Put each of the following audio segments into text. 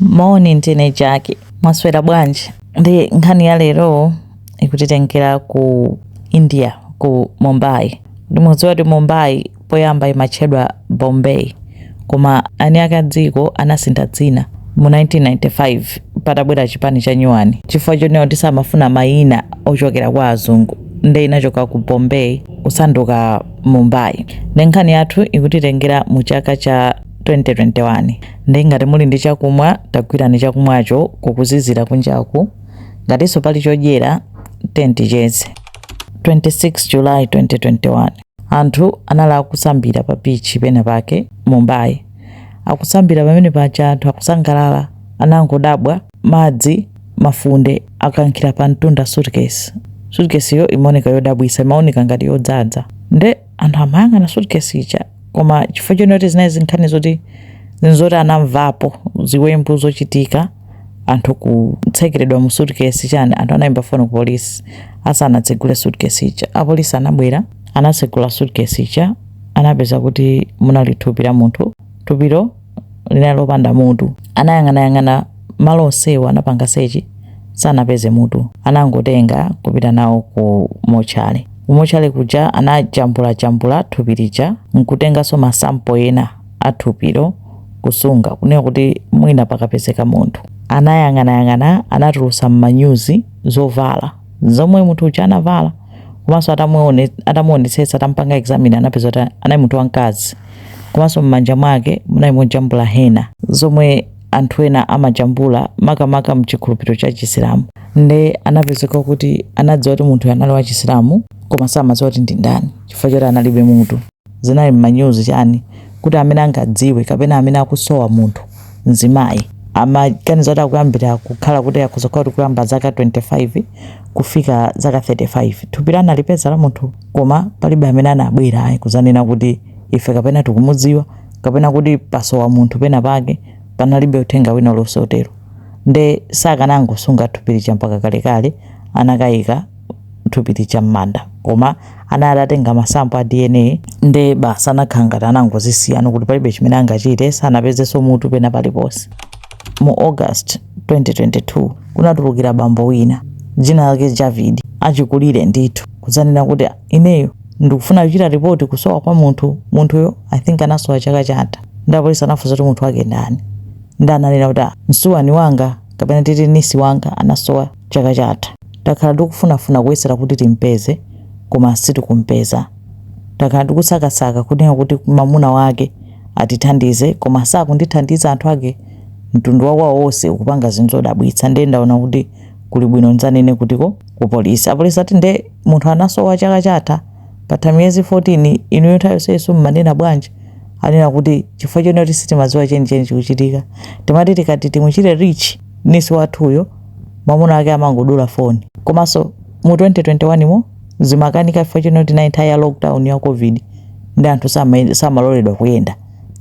Moni ndine Jaki, mwaswera bwanji? Nde nkhani ya lero ikutitengera ku India ku Mumbai. Nde mudziwa kuti Mumbai poyamba imatchedwa Bombay koma eni ake a dziko anasintha dzina mu 1995 patabwera chipani cha nyuwani chifukwa chonena kuti samafuna mayina ochokera kwa azungu nde inachoka ku Bombay kusanduka Mumbai. Nde nkhani yathu ikutitengera mu chaka cha 2021. Nde ngati muli ndi chakumwa tagwirani chakumwacho kukuzizira kunjaku, ngatinso pali chodyera tiyeni ticheze. 26 July 2021 Anthu anali akusambira pa beach pena pake Mumbai. Akusambira pamene paja anthu akusangalala anangodabwa madzi, mafunde, akankhira pamtunda suitcase. Suitcase yo imaoneka yodabwitsa, imaoneka ngati yodzadza. Nde. anthu amayang'ana suitcase ija koma chifukwa chonena kuti zinali zinkhani zoti zinzoti anamvapo ziwembu zochitika anthu kutsekeredwa mu suitcase chani anthu anayimba foni ku polisi asanatsegule suitcase ija apolisi anabwera anatsegula suitcase ija anapeza kuti munali thupi la munthu thupilo linali lopanda mutu. Anayang'anayang'ana malo onsewo, anapanga sechi, sanapeze mutu. Anangotenga kupita nalo ku motchale. Ku motchale kuja anajambulajambula thupi lija nkutenganso ma sample ena a thupilo kusunga kunena kuti mwina pakapezeka munthu. Anayang'anayang'ana anatulutsa m'manyuzi zovala. zomwe munthu uja anavala komanso atamuonetsetsa atampanga examine anapeza kuti anali munthu wamkazi komanso m'manja mwake munali mojambula hena zomwe anthu ena amajambula makamaka mchikhulupiriro cha chisilamu nde anapezeka kuti anadziwa kuti munthuyo anali wa chisilamu koma samadziwa kuti ndi ndani chifukwa choti analibe mutu zinali mmanyuzi chani kuti amene angadziwe kapena amene akusowa munthu mzimayi amaganiza kuti akuyambira kukhala kuti akhoza kukhala kuti kuyamba zaka 25 kufika zaka 35 thupilo analipeza la munthu koma palibe amene anabwera ayi kuzanena kuti ife kapena tikumudziwa kapena kuti pasowa munthu pena pake panalibe uthenga wina uliwonse wotero nde sakanangosunga thupi lija mpaka kalekale anakayika thupi lija m'manda koma anali atatenga masampo a dna nde basi anakhala ngati anangozisiyano kuti palibe chimene angachite sanapezenso mutu pena paliponse mu august 2022 kunatulukira bambo wina dzina lake javid achikulire ndithu kudzanena kuti ineyo ndikufuna kuchita ripoti kusowa kwa munthu munthuyo i think anasowa chaka chatha nde apolisi anafunsa kuti munthu wake ndani nde ananena kuti "Ah, msuwani wanga kapena titi nisi wanga anasowa Chaka chatha takhala tikufunafuna kuyesera kuti timpeze koma sitikumpeza. Takhala tikusakasaka kunena kuti mamuna wake atithandize koma sakutithandiza anthu ake mtundu wakwawo wonse ukupanga zinthu zodabwitsa ndiye ndaona kuti kuli bwino ndzanene kutiko ku polisi. Apolisi ati nde munthu anasowa chaka chatha patha miyezi 14 inuyo nthawi yonseyiso mmanena bwanji? Anena kuti chifukwa chonena kuti sitimadziwa chenicheni chikuchitika timati tikati timuchite reach nisi wathuyo mamuna wake amangodula foni komanso mu 2021 mo zimakanika chifukwa chonoti inali nthawi ya lockdown ya covid nde anthu sama- samaloledwa kuyenda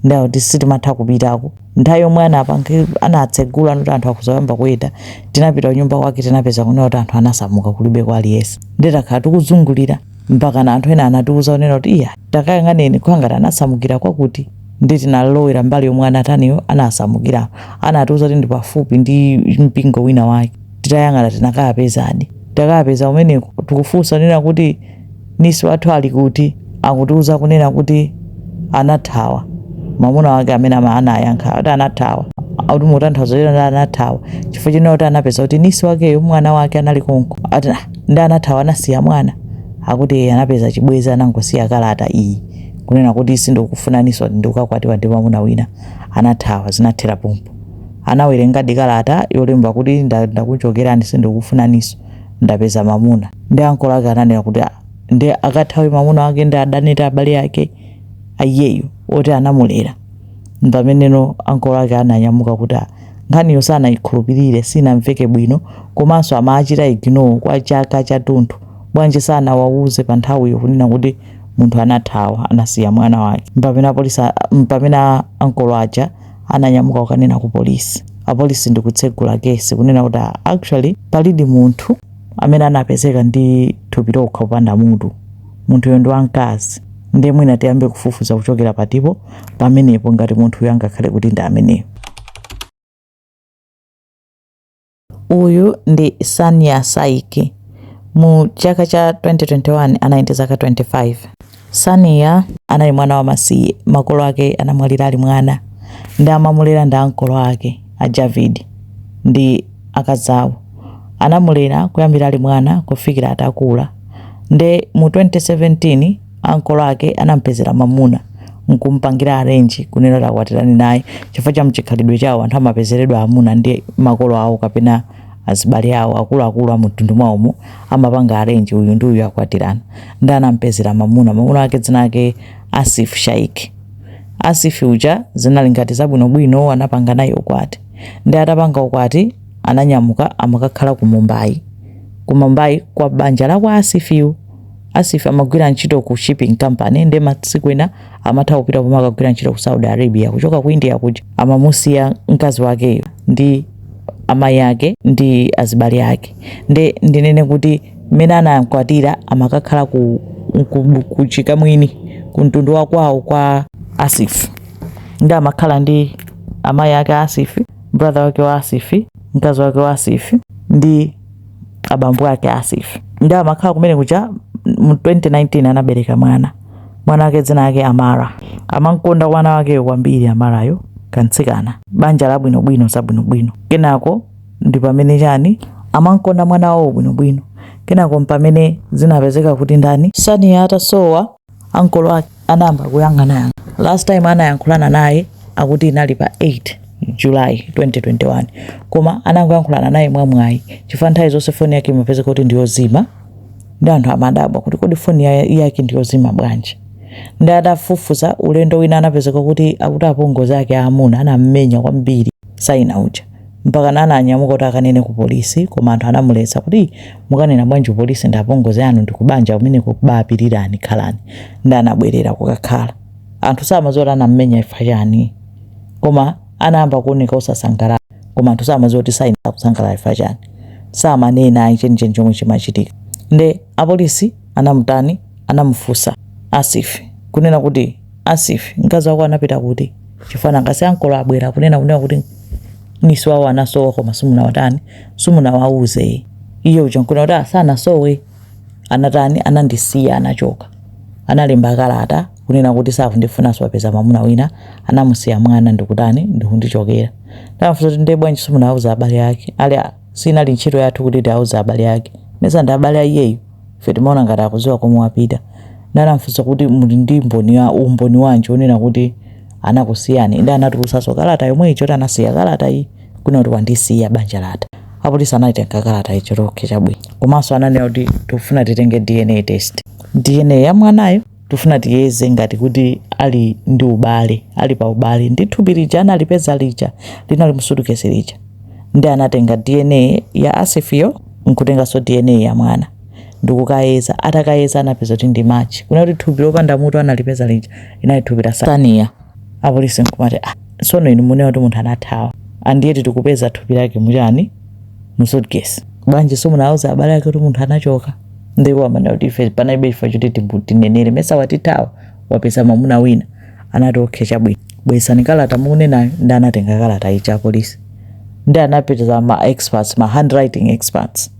nde kuti sitimatha kupitako nthawi yomwe anapange anatsegula noti anthu akuzoyamba kuyenda tinapita kunyumba kwake tinapeza kunena kuti anthu anasamuka kulibe kwa aliyense nde takhala tikuzungulira mpakana anthu ena anatiuza kunena kuti iya takayang'aneni kukhala ngati anasamukira kwakuti nde tinalowera mbali yomwe anataniyo anasamukiramo anatiuza kuti ndi pafupi ndi mpingo wina wake titayang'ana tinakayapezadi takayapeza umeneko tikufunsa kunena kuti nisi wathu ali kuti akutiuza kunena kuti anathawa mwamuna wake amene ama- anayankha kuti anathawa kuti mukutanthauza kuti anathawa chifukwa chonena kuti anapeza kuti nisi wakeyo mwana wake anali konko ati "Ah, Nde anathawa anasiya mwana? Akuti ee anapeza chibwezi anangosiya kalata iyi kunena kuti sindikufunaninso ati ndikukakwatiwa ndi mamuna wina anathawa zinathera pompo. Anawerengadi kalata yolemba kuti ndakuchokerani sindikufunaninso ndapeza mamuna. Nde ankolo ake ananena kuti ah nde akathawe mamuna wake nde adane ndi abale ake aiyeyu oti anamulera. Mpameneno ankolo ake ananyamuka kuti ah. Nkhaniyo sanaikhulupirire, sinamveke bwino, komanso amachita ignore kwa chaka chathunthu. Bwanji sanawauze panthawiyo kunena kuti munthu anathawa, anasiya mwana wake? Mpamene apolisi a, mpamene a ankolo aja ananyamuka kukanena ku polisi. Apolisi ndi kutsegula kesi kunena kuti ah, actually palidi munthu amene anapezeka ndi thupi lokha opanda mutu. munthuyo ndi wamkazi nde mwina tiyambe kufufuza kuchokera patipo pamenepo ngati munthuyo angakhale kuti ndi ameneyo uyu ndi sania saiki mu chaka cha 2021 anali ndi zaka 25 sania anali mwana wa masiye makolo ake anamwalira ali mwana nde amamulera ndi ankolo ake a javid ndi akazawo anamulera kuyambira ali mwana kufikira atakula Nde mu 2017 ankolo ake anamupezera mamuna nkumpangira arrange kunena kuti akwatirane naye chifukwa cha mchikhalidwe chawo anthu amapezeredwa amuna ndi makolo awo kapena azibale awo akuluakulu amumtundu mwawomo amapanga arrange uyu ndi uyu akwatirana nde anamupezera mamuna mamuna wake dzina lake Asif Shaik Asif uja zinali ngati zabwinobwino anapanga naye ukwati nde atapanga ukwati ananyamuka amakakhala ku Mumbai ku Mumbai kwa banja la kwa Asif-yu. Asif amagwira ntchito ku shipping company nde masiku ena amatha kupita pomwe akagwira ntchito ku Saudi Arabia kuchoka ku India kuja amamusiya mkazi wakeyo ndi amayi ake ndi azibale ake nde ndinene kuti mmene anamkwatira amakakhala ku, ku, ku chikamwini ku mtundu wa kwawo kwa Asif nde amakhala ndi amayi ake a Asif brother wake wa Asif mkazi wake wa Asif ndi abambo ake a Asif ndi amakhala kumene kuja mu 2019 anabereka mwana mwana wake dzina lake Amara amankonda mwana wakeyo kwambiri Amarayo kantsikana banja labwinobwino zabwinobwino kenako ndi pamene chani amankonda mwana wawo bwinobwino kenako mpamene zinapezeka kuti ndani Saniya atasowa ankolo ake anayamba kuyang'anayang'a. Last time anayankhulana naye akuti inali pa 8 July 2021 koma anangoyankhulana naye mwamwayi chifukwa nthawi zonse foni yake imapezeka kuti ndi yozima ndi anthu amadabwa kuti kodi foni ya- yake ndi yozima bwanji. Ndi atafufuza ulendo wina anapezeka kuti akuti apongozi ake aamuna anam'menya kwambiri Saina uja. mpakana ananyamuka kuti akanene ku polisi koma anthu anamuletsa kuti mukanena bwanji polisi ndi apongozi anu ndi kubanja kumeneku bapirirani khalani ndi anabwerera kukakhala anthu samadziwa kuti anammenya ifa chani koma anayamba kuoneka osasangalala koma anthu samadziwa kuti Saina sakusangalala ifa chani samanena ayi chenicheni chomwe chimachitika nde apolisi anamutani anamufunsa Asif kunena kuti Asif, mkazi wako anapita kuti? Chifukwa nanga si ankolo abwera kunena kuti niece wawo anasowa koma simunawatani simunawauze iye uja nkunena kuti asanasowe anatani anandisiya anachoka analemba kalata kunena kuti sakundifunanso wapeza mwamuna wina anamusiya mwana ndikutani ndikundichokera nde anamfunsa kuti ndiye bwanji simunauza abale ake ali a- sinali ntchito yathu kuti tiauze abale ake mesa ndi abale a iyeyu ife timaona ngati akuziwa komwe wapita nde anamfunsa kuti muli ndi mb- umboni wanji onena kuti anakusiyani nde anatulusaso kalata yomwe ija kuti anasiya kalata iyi kuna kuti wandisiya banja latha apolisi anaitenga kalata ija kuti okay chabwino komanso ananena kuti tikufuna titenge dna test dna ya mwanayo tifuna tiyeze ngati kuti ali ndi ubale ali pa ubale ndi thupi lija analipeza lija linali mu suitcase lija ndi anatenga dna ya asifiyo nkutenganso dna ya mwana ndikukayeza atakayeza anapeza kuti ndi match kunena kuti thupi lopanda mutu analipeza lija inali thupi la saina apolisi nkumati ah, sono inu munena kuti munthu anathawa andiyeti tikupeza thupi lake muchani mu suitcase bwanji simunauza abale ake kuti munthu anachoka ndi iwo amanena kuti ife panalibe chifukwa choti tibu- tinenere mesa watithawa wapeza mwamuna wina anati okay chabwino bweretsani kalata mukunenayo ndi anatenga kalata ija apolisi ndi anapeza ma experts ma handwriting experts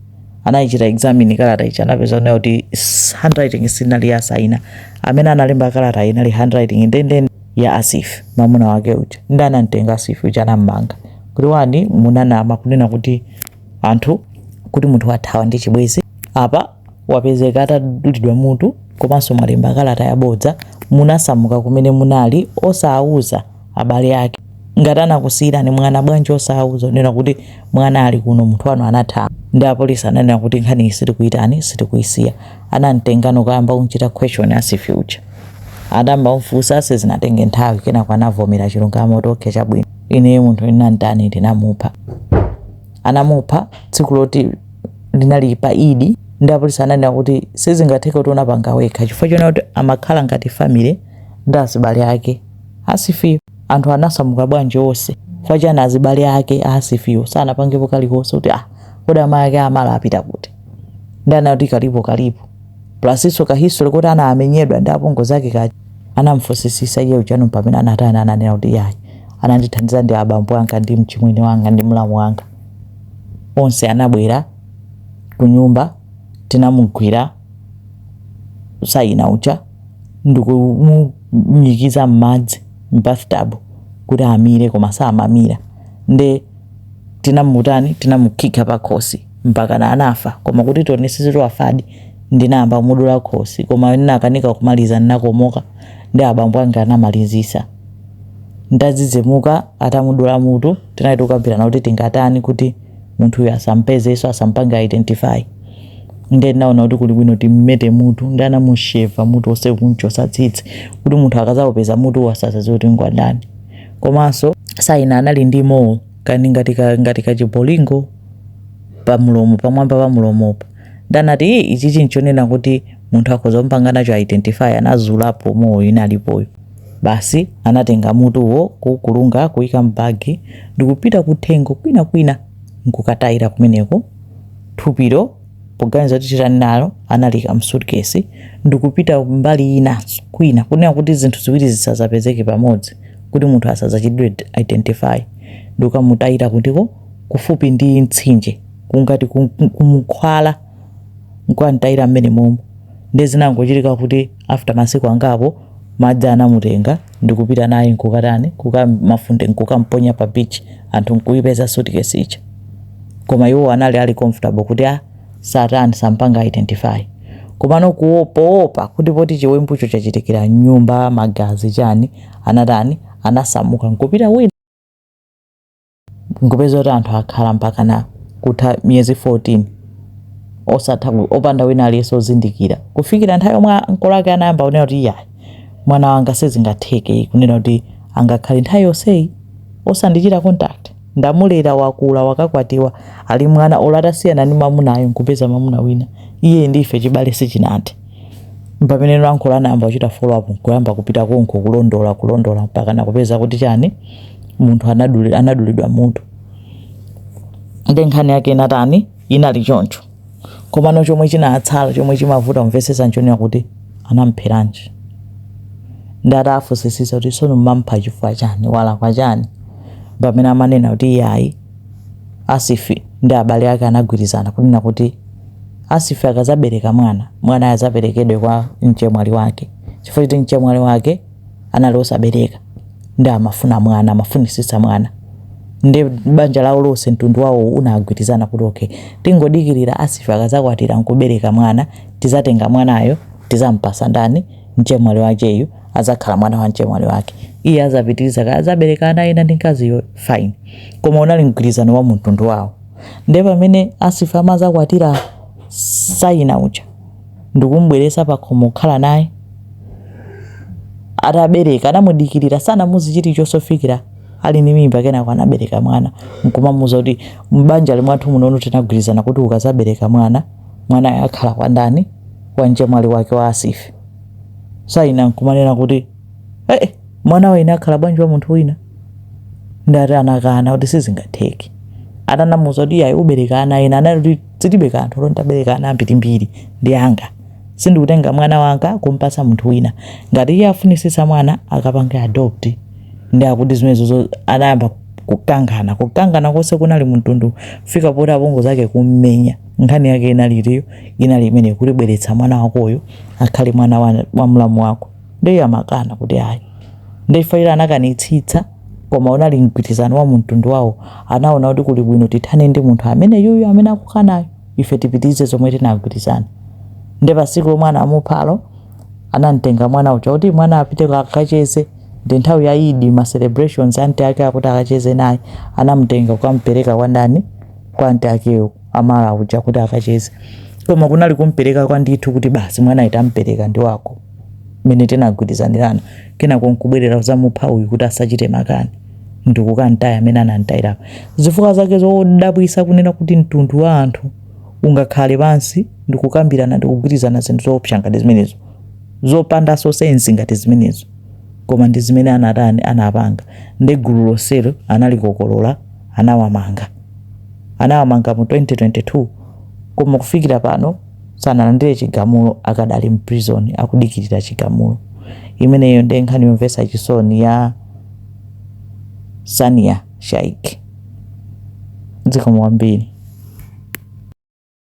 anayichita examine kalata ija anapeza nayo kuti s- handwriting sinali ya saina amene analemba kalata inali handwriting ndendende ya asif mwamuna wake uja ndi anamtenga asif uja anammanga kuti bwanji munanama kunena kuti anthu kuti munthu wathawa ndi chibwezi apa wapezeka atadulidwa mutu komanso mwalemba kalata yabodza munasamuka kumene munali osawuza abale ake ngati anakusiyirani mwana bwanji osawuza zonena kuti mwana ali kuno munthu wanu anathawa ndi apolisi ananena kuti nkhaniyi sitikuyitani sitikuyisiya anamtengano nkuyamba kumchita question asif uja atayamba kumfusa sizinatenge nthawi kenako anavomera chilungamo kuti okay chabwino ineyo munthu ndinamtani ndinamupha anamupha tsiku loti linali pa eid ndi apolisi ananena kuti sizingatheke kuti unapanga wekha chifukwa chonena kuti amakhala ngati family ndi azibale ake asifiyo anthu anasamuka bwanji onse chifukwa chani azibale ake asifiyo sanapangepo kalikonse kuti ah kodi amayi ake amala apita kuti ndi anati kalipo kalipo Plusso ka history koti anamenyedwa ndi apongozi ake kaja anamfusisisa iye ujano mpamene anatani ananena kuti yayi anandithandiza ndi abambo anga ndi mchimwene wanga ndi mlamu wanga onse anabwera kunyumba tinamugwira sayina uja ndikumunyikiza mmadzi mbathtub kuti amire koma samamira nde tinamutani tinamukhikha pa khosi mpakana anafa koma kuti tionesese kuti wafadi ndinayamba kumudula khosi koma ndinakanika kumaliza ndinakomoka ndi abambo anga anamalizisa ndadzidzimuka atamudula mutu tinali tikukambirana kuti tingatani kuti munthuyo asampezenso asampange identify ndiye ndinaona kuti kuli bwino timmete mutu ndi anamusheva mutu wonse kumchosa tsitsi kuti munthu akazawupeza mutuwo asazaziwe kuti ngwandani komanso saina anali ndi mole kani ngati ka ngati kachibolingo pa mulomo pamwamba pa mulomopo ndanati "Ii, ichichi nchonena kuti munthu akhoza kumpanga nacho identify anazulapo mole inalipoyo basi anatenga mutuwo kuukulunga kuika m'bagi ndikupita kuthengo kwina kwina nkukatayira kumeneko thupilo poganiza kuti chitani nalo analiika m'sutikesi ndikupita mbali inanso kwina, kunena kuti zinthu ziwiri zisadzapezeke pamodzi kuti munthu asadzachitidwe identify, ndikukamutayira kutaliko kufupi ndi mtsinje kungati ku mkhwala, nkukamtayira m'menemomo. Ndiye zinangochitika kuti. after masiku angapo madzi anamutenga ndikupita naye nkukatani kukamafunde nkukamponya pa beach anthu nkuipeza suitcase ija koma iwo anali ali comfortable kuti sa atani sampanga identify komano kuwo- poopa kuti poti chiwembucho chachitikira m'nyumba magazi chani anatani anasamuka nkupita kwina nkupeza kuti anthu akhala mpakana kutha miyezi 14 osatha ku- opanda wina aliyense ozindikira kufikira nthawi yomwe makolo ake anayamba kunena kuti iyayi mwana wanga sizingatheke kunena kuti angakhale nthawi yonseyi osandichita contact ndamulera wakula wakakwatiwa ali mwana olo atasiyana ndi mamunayo nkupeza mamuna wina iye ndife chibale sichinathe Mpamene makolo anayamba kuchita follow up nkuyamba kupita konko kulondola kulondola mpakana kupeza kuti chani munthu anaduli, anadulidwa mutu nde nkhani yake inatani inali choncho komano chomwe chinatsala chomwe chimavuta kumvetsetsa nchonena kuti anampheranji nde ataafusisisa kuti sono mwamupha chifukwa chani walakwa chani pamene amanena kuti iyayi asifi ndi abale ake anagwirizana kunena kuti Asifi akazabereka mwana, mwanayo azaperekedwe kwa mchemwali wake chifukwa choti mchemwali wake anali osabereka nde amafuna mwana, amafunisitsa mwana nde banja lawo lonse mtundu wawo unagwirizana kuti okay, tingodikirira Asifi akazakwatira nkubereka mwana, tizatenga mwanayo tizampasa ndani mchemwali wakeyu azakhala mwana wa mchemwali wake. Iye azapitiriza kaya azabereka ana ena ndi mkaziyo fine, koma unali mgwirizano wa mtundu wawo. nde pamene asifi amazakwatira saina uja ndikumbweresa pakhomo kukhala naye atabereka anamudikirira sanamuuze chilichonse kufikira ali ndi mimba kenako anabereka mwana nkumamuza kuti mbanja la mwathu munono tinagwirizana kuti ukazabereka mwana mwanayo akhala kwa ndani kwa mchemwali wake wa asifi saina nkumanena kuti ee mwana waine akhala bwanji wa munthu wina nde akuti anakana kuti sizingatheke atanamuza kuti iyayi ubereka ana ena anali kuti zilibe kanthu olo nditabereka ana ambirimbiri ndi anga sindingatenge mwana wanga nkumpasa munthu wina ngati iye afunisisa mwana akapange adopt nde akuti zimenezo anayamba kukangana kukangana konse kunali mtundu kufika poti apongozi zake kummenya nkhani yake inali iliyo inali imene kuti bweretsa mwana wakoyo akhale mwana wa, wa mlamu wako Nde iyeyo amakana kuti ayi. Nde chifukwa choti anakanitsitsa koma unali mgwirizano wa mtundu wawo, anaona kuti kuli bwino tithane ndi munthu ameneyuyu amene akukanayu, ife tipitirize zomwe tinagwirizana. Nde pa tsiku lomwe anamuphalo, anamtenga mwana uja kuti mwana apite akacheze, ndi nthawi ya Eid, ma celebrations, aunt ake akuti akacheze naye, anamtenga kukampereka kwa ndani, kwa aunt akewo, Amara uja kuti akacheze. Koma kunali kumpereka kwa ndithu kuti basi mwanayu tampereka ndi wako. mmene tinagwirizanirana kenako nkubwerera kuzamupha uyu kuti asachite makani ndikukamtaya mmene anamtayira zifukwa zake zodabwisa kunena kuti mtundu wa anthu ungakhale pansi ndikukambirana ndikugwirizana zinthu zoopsa ngati zimenezo zopanda sensi ngati zimenezo koma ndi zimene anatani anapanga ndi gulu lonselo analikokolola anawamanga anawamanga mu 2022 koma kufikira pano sanalandire chigamulo akadali mprison akudikilira chigamulo. imeneyo nde nkhani yomvesa chisoni ya sania shaik. zikomo kwambiri.